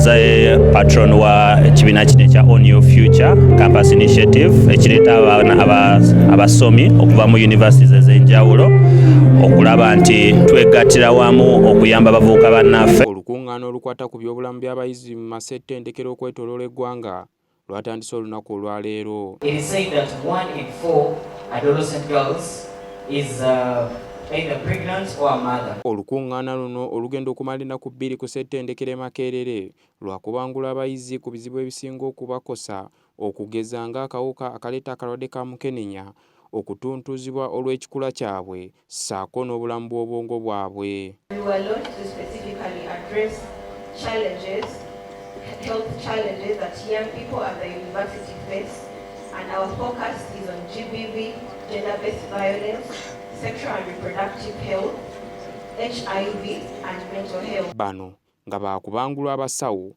nze patron wa kibiina kino ekya on your future campus initiative ekireeta abaana abasomi okuva mu universities ez'enjawulo okulaba nti twegattira wamu okuyamba abavubuka bannaffe olukuŋŋaana olukwata ku byobulamu by'abayizi mu masettendekero okwetoloola eggwanga lwatandise olunaku olwaleero Olukungaana luno olugenda okumala ennaku bbiri ku ssettendekero e Makerere lwakubangula abayizi ku bizibu ebisinga okubakosa okugeza ng'akawuka akaleeta akalwadde ka mukenenya okutuntuuzibwa olw'ekikula kyabwe ssaako n'obulamu bw'obwongo bwabwe. and our focus is on GBV, gender-based violence, sexual and reproductive health, HIV and mental health. Bano nga baakubangulwa abasawo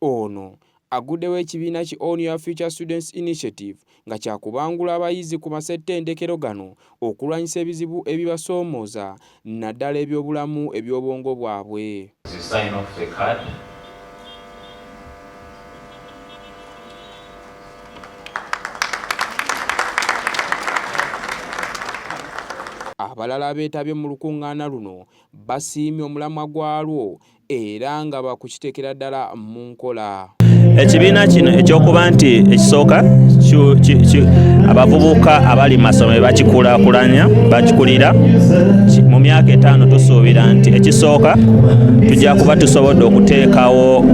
Ono aggudewo ekibiina ki On Your Future Students Initiative nga kyakubangula abayizi ku masettendekero gano okulwanyisa ebizibu ebibasoomooza naddala ebyobulamu ebyobwongo bwabwe. Abalala abeetabye mu lukuŋŋaana luno basiimye omulamwa gwalwo era nga bakukiteekera ddala mu nkola ekibiina kino ekyokuba nti ekisooka abavubuka abali masomero bakikulakulanya bakikulira mu myaka etaano tusuubira nti ekisooka tujja kuba tusobodde okuteekawo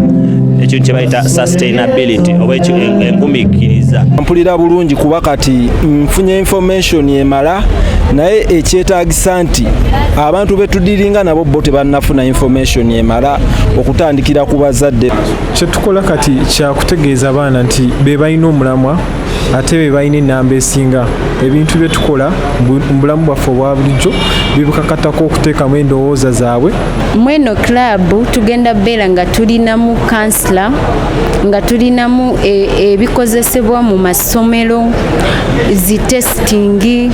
ekintu kyebayita sustainability oba engumikiriza mpulira bulungi kuba kati nfunye information constitution emala naye ekyetagisa nti abantu betudiringa nabo bo tebanafuna information emala okutandikira ku bazadde kyetukola kati kyakutegeeza abaana nti bebalina omulamwa ate bebalina enamba esinga ebintu byetukola mubulamu bwaffe obwa bulijjo bibukakatako okuteekamu endowooza zaabwe mweno club tugenda beera nga tulinamu kansila nga tulinamu e, ebikozesebwa mu mas ssomero zitesitingi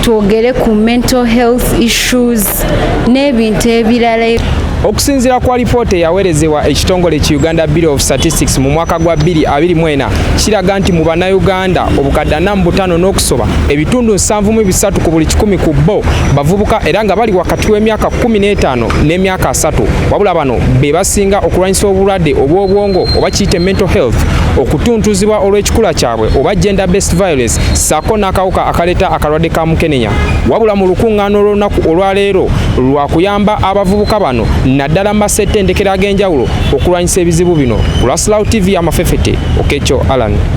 twogere ku mental health issues n'ebintu ebirala okusinziira ku alipoota eyaweerezebwa ekitongole ki uganda bureau of statistics mu mwaka gwa 2024 kiraga nti mu bannayuganda obukadde ana mu butaano n'okusoba ebitundu 73 ku buli kikumi ku bo bavubuka era nga bali wakati w'emyaka 15 n'emyaka 3 wabula bano be basinga okulwanyisa obulwadde obw'obwongo oba kiyite mental health okutuntuzibwa olw'ekikula kyabwe oba gender based violence saako n'akawuka akaleeta akalwadde ka mukenenya wabula mu lukuŋŋaana olw'olunaku olwaleero lwa kuyamba abavubuka bano naddala mu masettendekero ag'enjawulo okulwanyisa ebizibu bino ku lwasilawo tv amafefete okekyo alan